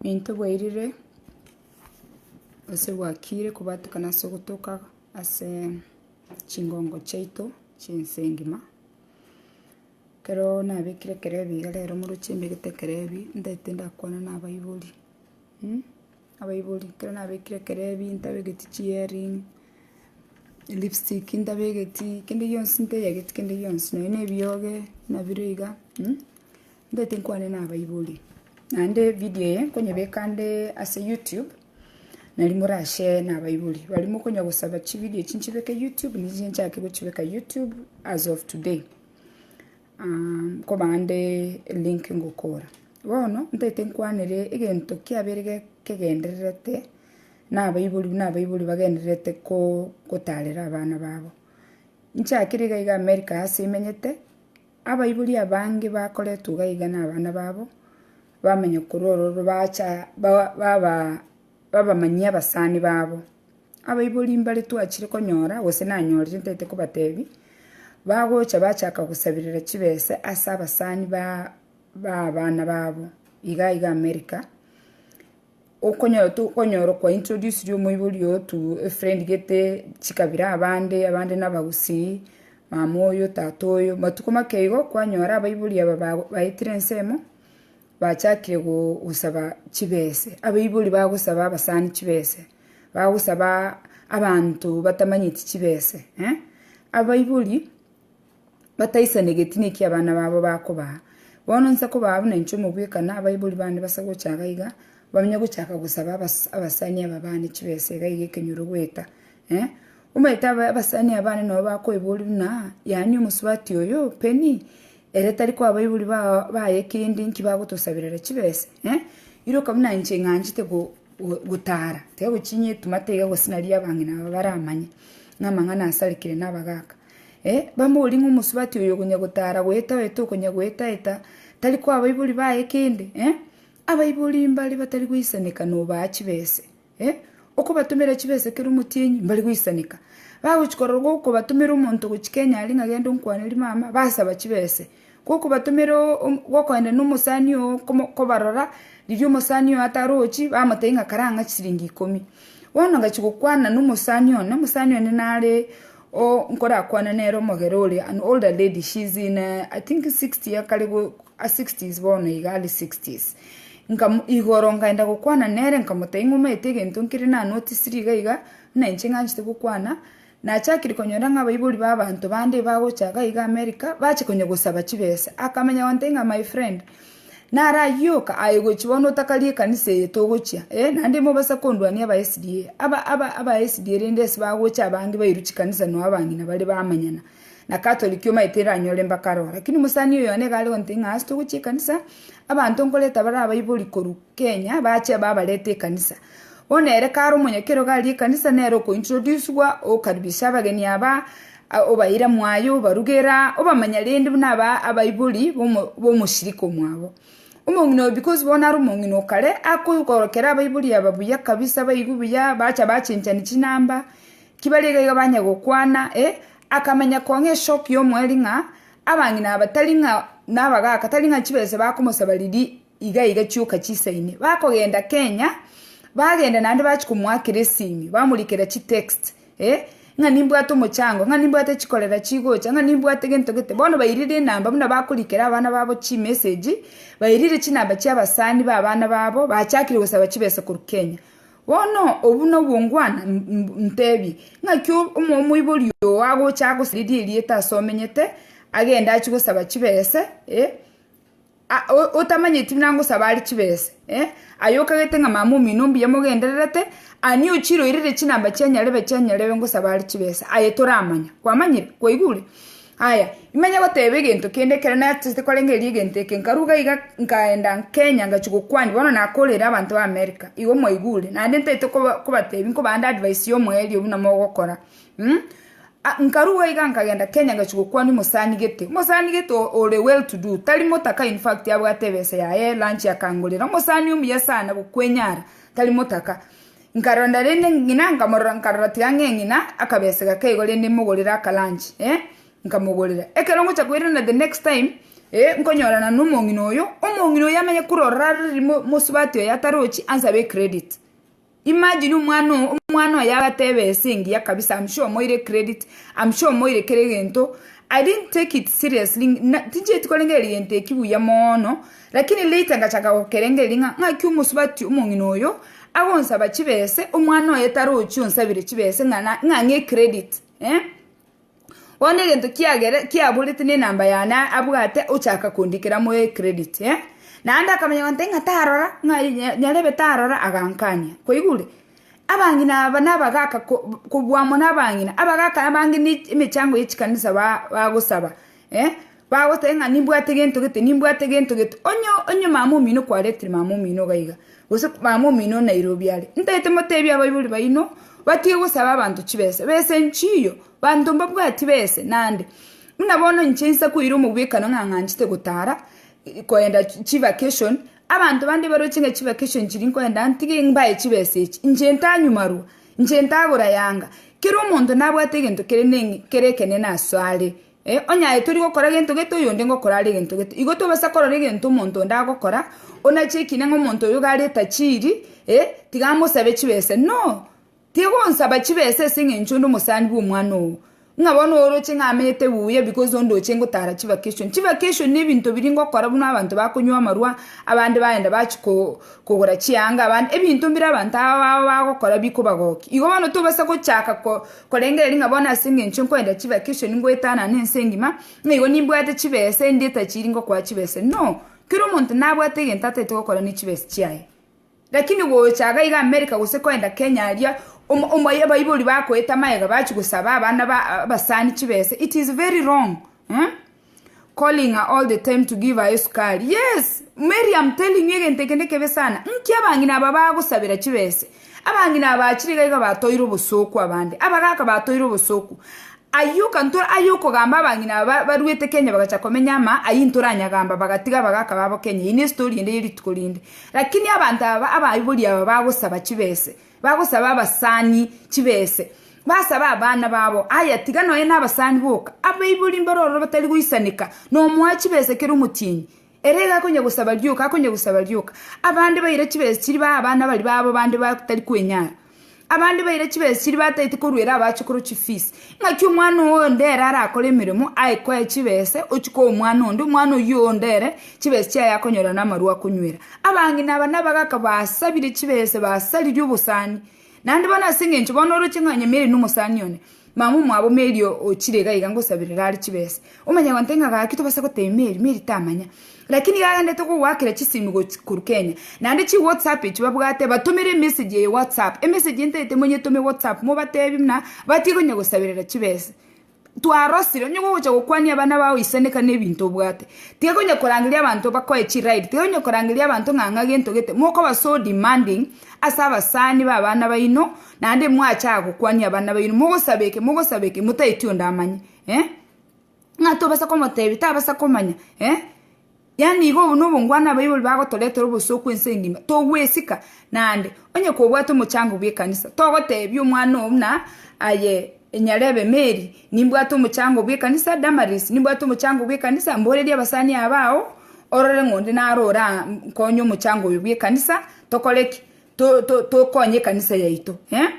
Nintwe bwairire gose bwakiire kobatukana ase ogotoka ase chingongo chiaito chi'ense engima, ekero nabekire ekerebi iga rero moroche mbegete ekerebi, ntaete ndakwana nabaibori. Abaibori, ekero nabekire ekerebi ntabegeti chiearing, lipstick ntabegeti, kende gionsi nteyegeti kende gionsi, nonya na ebioge nabire iga, ntagete nkwane na abaibori. Naende ebidio eye nkonyebeka nde ase youtube, nari more ashare na abaibori, bari mokonya gosaba chibidio echi nchibeke youtube, ninche nchake gochibeka youtube as of today, nkoba nde elink ngokora. Bono ntaete nkwanere egento kiabere kegendererete nabaibori, buna abaibori bagendererete ko- gotarera abana babo. Nchakire iga iga America ase imenyete, abaibori abange bakoretwa iga iga na abana babo, bamanya korwa ororo bacha ba- baba- babamanyia abasani babo. Abaibori mbare twachire konyora gose nanyorire ntaete kobatebi, bagocha bachaka gosabera chibesa ase abasani ba- b'abana babo iga iga America, okonyora tokonyora okwa introduced omoibori oyo to a friend gete chikabira abande, abande na abagusii, mama oyo, tata oyo. Matuko make igo kwanyora abaibori aba ba- baetire ensemo, bachakire go- gosaba chibese, abaibori bagosaba abasani chibese, bagosaba abanto batamanyeti chibese eh, abaibori. bataisane egetina eki abana babo bakobaa. Bono inse kobaa buna inche omogweka na abaibori bane base gocha iga iga, bamenye gochaka gosaba abas- abasani aba bane chibesa iga iga ekenyoro goeta, eh. Omanyete aba- abasani aba bane nabo bakoiboria buna, yaani omosubati oyo, Penny, ere tari koa abaibori bao baye kende nki bagotosabera chibesa, eh. Iroka buna inche ing'anchete go- go- gotara, tari gochinyia etumata iga gose nari abang'ina aba baramanye, ng'a amang'ana asarikire na abagaka. Eh, bamborie ng'a omosubati oyo okonya gotara goeta-oeta okonya goeta-eta, tari koa abaibori baye kende? Eh, abaibori mbare batari goisaneka nobaa chibese. Eh, okobatomera chibese kera omotienyi, mbare goisaneka. Bagochi korora gokobatomera omonto gochia Kenya aria ng'a genda onkwaneri mama, basaba chibese. Gokobatomera gokoenda nomosani oo kobarora, riria omosani oo atarochi, bamotebia ng'a kare ang'ache chiringi ikomi. Bono ogachia gokwana nomosani one, omosani one naree nkorakwane nere omogera ore an older lady, she is in I think sixty akare go ase sixties bono iga are sixties. Nkamu igoro nkaenda gokwana nere nkamotebia ng'a omanyete egento nkere nanotisirie iga iga, buna inche ng'anchete gokwana. Nachakire konyora ng'a abaibori b'abanto bande bagocha gaiga Amerika bache konya gosaba chibesa. Akamenya gonte ng'a my friend, nare ayio yoka aye gochi bono otakarie ekanisa eye togochia, ee, naende ime obasa kondwania aba SDA. Aba aba aba SDA rende ase bagocha abange bairwe chikanisa noa abang'ina bare bamanyana na Catholic omanyete eranyore mbakare oo. Lakini omosani oyo one iga are gonte ng'a ase togochia ekanisa, abanto nkoreta bare abaibori korwa Kenya bache babarete ekanisa. Bono ere kare omonyakerogo aria ekanisa nere okointrodusigwa, okaribisia abageni aba, obaira mwaye, obarugera, obamanya rende buna aba abaibori b'omoshirika omwabo. Omong'ina oyo because bono are omong'ina o kare, akoborokera abaibori aba buya kabisa baigwe buya, bacha bachenchani chinamba, ki bari iga iga banya gokwana, eh, akamanya kong'a eshock y'omoeri ng'a abang'ina aba tari ng'a nabagaka, tari ng'a chibesa bakomosaba riria Iga iga chioka chisaine. Bakogenda Kenya, bagenda naende bachia komoakera esimi, bamorikera chitext, eh, ng'a nimbwate omochango, ng'a nimbwate chikorera chigocha, ng'a nimbwate gento gete. Bono bairire enamba buna bakorikera abana babo chimessage, bairire chinamba chia abasani ba abana babo, bachakire gosaba chibesa korwa Kenya. Bono obwo nobongwana ntebie, ng'aki omo omoibori oo agocha agosiririe erieta ase omenyete, agende achie gosaba chibese, eh. otamanyeti buna ngosaba are chibesa, aye okagete ng'a mama omino mbuya mogendererete, ani ochiroirire chinamba chia nyarebe chia nyarebe ngosaba are chibesa, aye toramanya. Kwamanyire? Kwaigure? Aya, imanye goteba egento kende ekero nachete korengereria egento eke, nkaruga iga nkaenda Kenya ngachia gokwani, bono nakorera abanto ba America, igo mwaigure? Naende ntaete koba kobatebi nkobaande advice ya omoerio buna mogokora, Nkaruga iga nkagenda Kenya ngachia gokwanwa omosani gete. Omosani gete ore well to do, tari motaka in fact abwate ebesa yaye, lunch akangorera. Omosani omuya sana gokwenyara, tari motaka. Nkarora rende ng'ina nkamorora nkarora tiga ng'e ng'ina akabesa gake igo rende mogorere aka lunch nkamogorera. Ekero ngocha koirana the next time nkonyorana na omong'ina oyo, omong'ina oyo amanye korora are mosubati oyo atarochi ansabe ecredit. Imagine omwana oo omwana oye agatebe ase engiya kabisa am sure omoire credit am sure omoire kera egento I didn't take it seriously na tinchieti korengereria egento ekio buya moono lakini later ngachaka gokerengereria ng'a ng'aki omosubati omong'ina oyo agonsaba chibese omwana oye tarochi onsabire chibese ng'a na ng'a ang'e credit eh. Bono egento kiagere kiaborete nenamba yane abwate ochaka kondikera moe credit eh naende akamanya goteba ng'a tarora ng'a nyarebe tarora agankania kwaigure? Abang'ina aba na abagaka ko kobua mono abang'ina abagaka abange ne emechango ya chikanisa ba bagosaba. eh, bagoteba ng'a nimbwate gento gete, nimbwate gento gete, onye onye mama omino kwaretire mama omino iga iga, gose mama omino o Nairobi are, ntaete motebie abaibori baino batige gosaba abanto chibesa, besa enchiyo, banto mbabwati besa nande, buna bono inche nsa koira omogwekano ng'a ng'anchete gotara i- koenda chi chivacation, abanto bande baroche ng'a chivacation chiria nkoenda ntige mbae chibesa echi, inche ntanyu marwa. Inche ntagora yanga. Kera omonto nabwate egento kere ekenene aso are. Onye aye tori gokora gento gete oyonde ngokora are egento gete. Igo tobasa korora egento omonto onde agokora, onache ekina ng'a omonto oyo iga are tajiri, tiga amosabe chibesa. No! Tigonsaba chibesa ase eng'encho onde omosani bw'omwana oo. Ng'a bono oroche ng'a amete buya because ondoche ngotaara chivacation. Chivacation ne ebinto biria ngokora buna abanto bakonywa amarwa, abande bagenda bachia ko kogora chianga, abande ebinto mbire abanto aba babo bagokora bikobagokia. Igo bono tobasa gochaka ko korengereria ng'a bono ase eng'encho nkoenda chivacation ngoetanane ense engima, ng'a igo nimbwate chibesa endi etachiri ngokoa chibesa. No! Kera omonto nabwate egento ataete gokora ne chibesa chiaye. Lakini gocha aga iga America gose koenda Kenya aria omoyo abaibori bakoeta magega bachie gosaba abana abasani chibesa it is very wrong calling her all the time to give her esukari yes Mary am telling you egento eke nekebe sana nki abang'ina aba bagosabera chibesa abang'ina aba achire iga iga batoire obosooku abande abagaka batoire obosooku ayio kanto ayio okogamba abang'ina aba baruete Kenya bagacha komenya ama ayio ntoranyagamba bagatiga abagaka babo Kenya eyio ne story ende yerituko rinde. Lakini abanto aba abaibori aba bagosaba chibese, bagosaba abasani chibese, basabe abana babo, aye tiga noye nabasani boka. Abaibori mbaro ororo batari goisaneka, nomoa chibese kera omotienyi, ere iga akonya gosaba rioka, akonya gosaba rioka. Abande baira chibese chiria bae abana baria babo bande batari kwenyara. Abande baire chibesiri bataeti koruera abachukuru chifees. Ng'aki omwana oo onde ere arakore emeremo aye koe chibese ochie koa omwana onde, omwana oyio onde ere chibesi chiaye akonyora na amarwa akonywera. Abang'ina aba nabagaka basabire chibese basaririe obosani. Naende bono ase eng'encho bono oroche ng'a nyameri nomosani one. Mama omwabo Mary ochire iga iga ngosaberera are chibesa. Omanya gonte ng'a gaki tobasa gotebia Mary, Mary tamanya. Lakini iga agendete kogoakera chisimu gochi korwa Kenya. Naende chi WhatsApp echi babwate batomere emessage eye WhatsApp. Emessage eye ntaete monyetome WhatsApp mobatebie buna batige konya gosaberera chibesa. Twarosire onye gogocha gokwania abana bao isaneka na ebinto obwate. Tiga konya korangeria abanto bakoe chi ride, tiga konya korangeria abanto ng'a ng'a gento gete. Mokoba so demanding ase abasani ba abana baino Naende mwachaka gokwania abana baino, mogosaba eke, mogosaba eke, motaeti onde amanye, eh, ng'a tobasa komotebia, tabasa komanya, eh, yaani iga obo nobongwana abaibori bagotoretera obosooku ense engima, togwesika, naende onye kobwate omochango bw'ekanisa, togotebia omwana oo buna aye enyarebe Mary, nimbwate omochango bw'ekanisa, Damaris, nimbwate omochango bw'ekanisa, mboreria abasani aba ao, orore ng'a onde naro oraa nkonye omochango oyo bw'ekanisa, tokore ki. tokonye ekanisa yaito eh.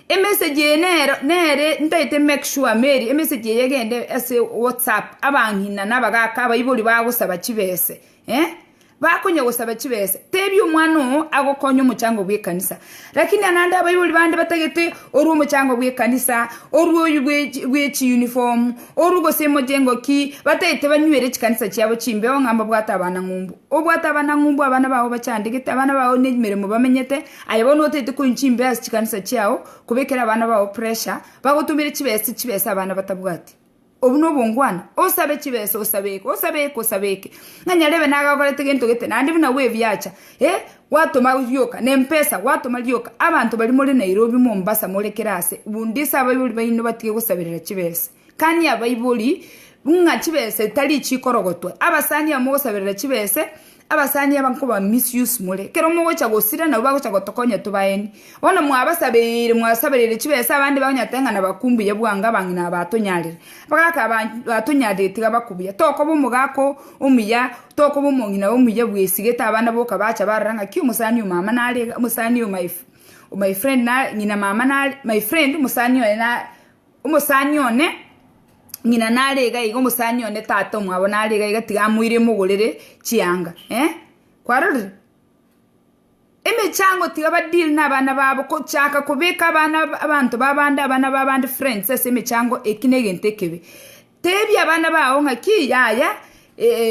Emessage eye nero nere ntaete make sure Mary emessage eye egende ase whatsapp abang'ina na abagaka abaibori bagosaba chibese eh, bakonya gosaba chibesa tebia omwana oo agokonye omochango bwa ekanisa. Lakini na naende abaibori bande batagete orwe omochango bwa ekanisa, orwe oywo bwe bwe chiuniform. Orwe gose emocheng'o ki bataete banywere chikanisa chiabo chimbeo ng'a mbabwate abanang'umbu? Obwate abanang'umbu abana bao bachandegete, abana bao nemeremo bamenyete, aye bono otaete konywa chimbeo ase chikanisa chiao kobekera abana bao pressure bagotomere chibesa chibesa abana batabwati. Obwo nobongwana? Osabe chibesa osabe eke osabe eke osabe eke ng'a nyarebe nagakorete gento gete naende buna bwebiacha. Ee, gwatoma rioka, nempesa, gwatoma rioka abanto baria more Nairobi, Mombasa, more kera aase, bundisa abaibori baino batige gosaberera chibesa. Kania abaibori ng'a chibesa etari chikorogotwa. Abasani aba mogosaberera chibesa, abasani aba nkoba misuse more. Ekero mogocha gosira nabo bagocha gotokonya tobaeni. Bono mwabasabeire, mwasabereire chibesa abande bagonya goteba ng'a nabakumbuya bwango abang'ina aba batonyarire. Bagaka aba tonyarire tiga bakobuya, tokoba omogaka omuya, tokoba omong'ina omuya bwesi, gete abana boka bacha barora ng'aki omosani oo mama nare iga, omosani oo my my friend nare ng'ina mama nare my friend omosani oye na omosani one ng'ina nare iga iga omosani one tata omwabo nare iga iga tiga amoire mogorere chianga, eh kwarorire. Emechango tiga ba deal na abana babo kochaka kobeka abana abanto babande abana babande friends ase emechango eki negento ekebe. Tebia abana bao ng'aki yaya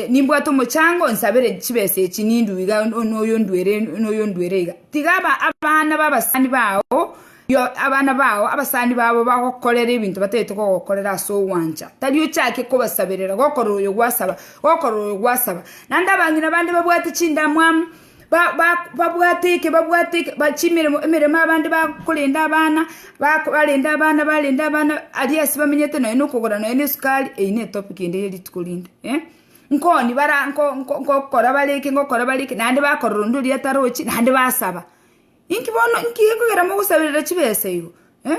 nimbwate omochango nsabere chibesa echi nindue iga noyo nduere noyo nduere iga. Tiga abana ba abasani bao abana bao abasani babo bagokorere ebinto batagete kogokorera ase ogwancha tari ochake kobasaberera gokora oyo gwasaba gokora oyo gwasaba. Naende abang'ina bande babwate chindamwamu. ba- ba- babwate eke, babwate eke, ba- chimeremo emeremo abande bakorenda abana, bako barende abana barende abana aria ase bamenyete nonya na okogora nonya na esukari, eyio ne etopic ende ya rituko rinde, eh. Nkoni bara nko- nko- ngokora bare eke ngokora bare eke, naende bakorora onde oria atarochi naende basaba. Inki bono inki ekogera mogosaberera chibesa igo, eh,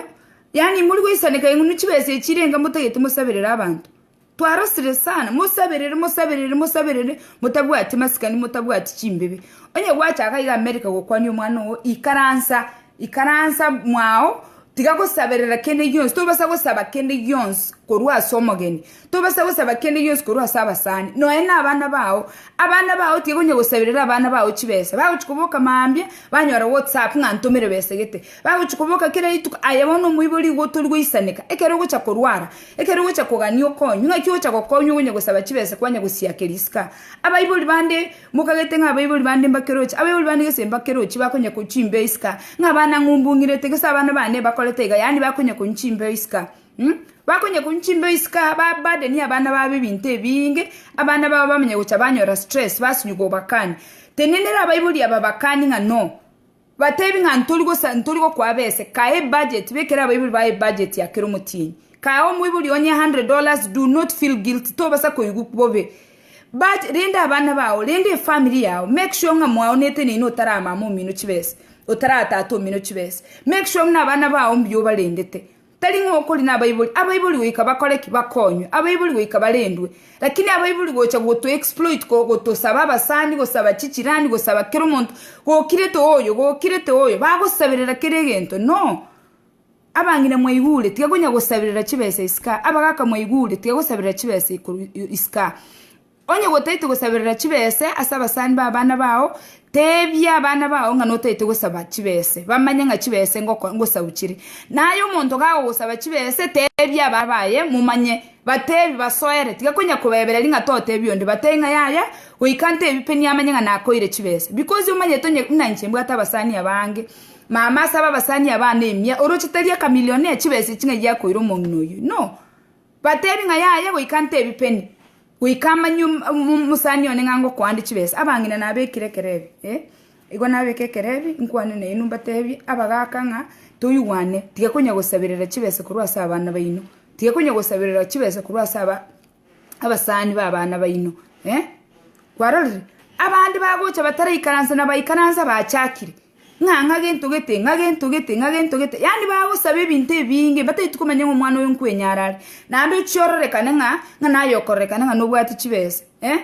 yaani mori goisaneka ing'unu chibesa echi chirenga motagete mosaberere abanto. Twarosire sana. Mosaberere, mosaberere, mosaberere, motabwati masikani, motabwati chimbibe. Onye gwacha iga iga America gokwania omwana oo, ikaransa, ikaransa mwao, tiga gosaberera kende gionsi, tobasa gosaba kende gionsi korwa ase omogeni, tobasa gosaba kende gionsi korwa ase abasani, nonya na abana bao, abana bao tiga onye gosaberera abana bao chibesa, bagochi koboka mambia, banyora whatsapp ng'a ntomere besa egete, bagochi koboka kera rituko, aye bono omoibori iga otorigwe isaneka, ekero ogocha korwara. Ekero ogocha kogania okonywa, ng'aki ogocha gokonywa ogonya gosaba chibesa kwanya gosiakeria isiko? Abaibori bande mokagete ng'a abaibori bande mbakeroche, abaibori bande gese mbakerochi bakonya konywa chimbeo isiko, ng'a abana ang'u mbung'irete gese abana bane bakorete iga, yaani bakonya konywa chimbeo isiko um bakonya konywa chimbeo isiko, babadenie abana babo ebinto ebiinge, abana babo bamanye gocha banyora stress, basunywa gobakani. Tenenera abaibori aba bakani ng'a no. Batebi ng'a ntori gosa ntori gokoa bese, kae ebudget, bekera abaibori bao ebudget ya kera omotienyi. Kae omoibori onye 100 dollars, do not feel guilty, tobasa koigwa bobe. But rende abana bao, rende efamily yao, make sure ng'a mwaonete neino otara mama omino chibesa, otara tata omino chibesa. Make sure ng'a abana bao mbuya obarendete. Tari ng'a okori nabaibori, abaibori goika bakore ki? Bakonywe, abaibori goika barendwe. Lakini abaibori gocha goto exploit, go, gotosaba abasani, gosaba chichirani, gosaba kera omonto, gokirete oyo, gokirete oyo, bagosaberera kera egento. No! Abang'ina mwaigure, tiga konya gosaberera chibesa iskaa, abagaka mwaigure, tiga gosaberera chibesa ikoru, iskaa. Onye gotaete gosaberera chibese ase abasani b'abana bao, teebia abana bao ng'a notaete gosaba chibese, bamanye ng'a chibese ngoko ngosau chire. Na aye omonto gagogosaba chibese, teebia abana baye, momanye, bateebie, basoere, tiga konya kobaebera ring'a toteebia onde, batebie ng'a yaya, goika nteebie pe niye amanye ng'a nakoire chibese. Bikosi omanyete onye buna inche mbwate abasani abange, mama asabe abasani abana emia, oroche tari ekamilioni ya chibese echi ng'a egiakoira omong'ina oyio, inoo? Bateebie ng'a yaye goika ntebi peni, goika amanywe omosani one ng'a ngokoande chibesa. Abang'ina nabekire ekerebi, ee, igo nabeke ekerebi inkwane nainwe mbateebie abagaaka ng'a toigwane, tiga konya gosaberera chibesa korwa ase abana baino, tiga konya gosaberera chibesa korwa ase aba abasani b'abana baino, ee. Kwarorire? Abande bagocha bataraikaransa na baikaransa bachakire, ng'a ng'a gento gete, ng'a gento gete, ng'a gento gete, yaani bagosaba ebinto ebiinge mbataeti komanya ng'a omwana oyo nkwenyara are, naende ochia ororekane ng'a ng'a naye okororekana ng'a nobwate chibesa, eh,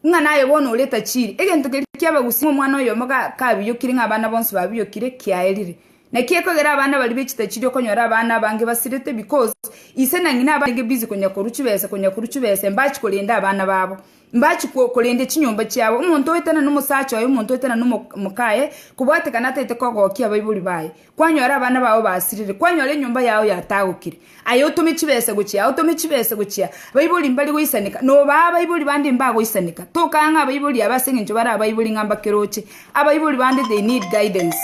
ng'a naye bono ore tachiri. Egento keria kiabagusia ng'a omwana oyomo ga kabiyokire ng'a abana bonsi babiyokire, kiaerire. Naki ekogera abana baria be chitachiri okonyora abana abange basirete because ise na ng'ina abande busy konya korwa chibesa konya korwa chibesa, mbachi korenda abana babo. Mbachikwa okorenda chinyomba chiabo, omonto oetana nomosacha oye, omonto oetana nomokaye, kobwatekana ataete kogokia abaibori baye. Kwanyora abana bao basirire, kwanyora enyomba yao yatagokire, aye otome chibesa gochia, otome chibesa gochia, abaibori mbare goisaneka, nobaa abaibori bande mbagoisaneka. Tokaya ng'a abaibori aba ase engencho bare abaibori ng'a mbakeroche. Abaibori bande they need guidance.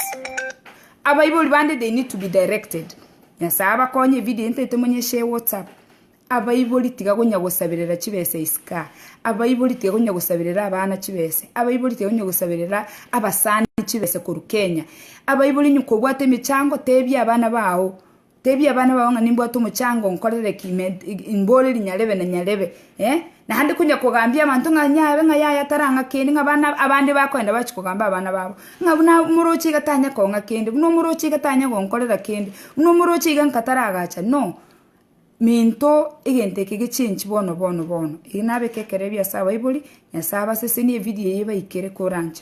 Abaibori bande they need to be directed. Nyasae abakonye, evideo entaete monyeshe whatsapp. Abaibori tiga gonya gosaberera chibesa isika, abaibori tiga gonya gosaberera abana chibesa, abaibori tiga gonya gosaberera abasani chibesa korwa Kenya. Abaibori onye kobwate emechango tebia abana bao, tebia abana bao ng'a nimbwate omochango nkorere ki med mbore rinyarebe na nyarebe eh. Naende konya kogambia abanto ng'a nyabe ng'a yaya tarang'a kende ng'a abana abande bakoenda bachi kogamba abana babo ng'a buna omoroche iga tanya kong'a kende, buna omoroche iga tanya gonkorera kende, buna omoroche iga nka taragachani no. Minto egento eke gechenchi bono bono bono, ere nabeke ekerebi ase abaibori, Nyasae abasesenie ebirie eye baikere koranche.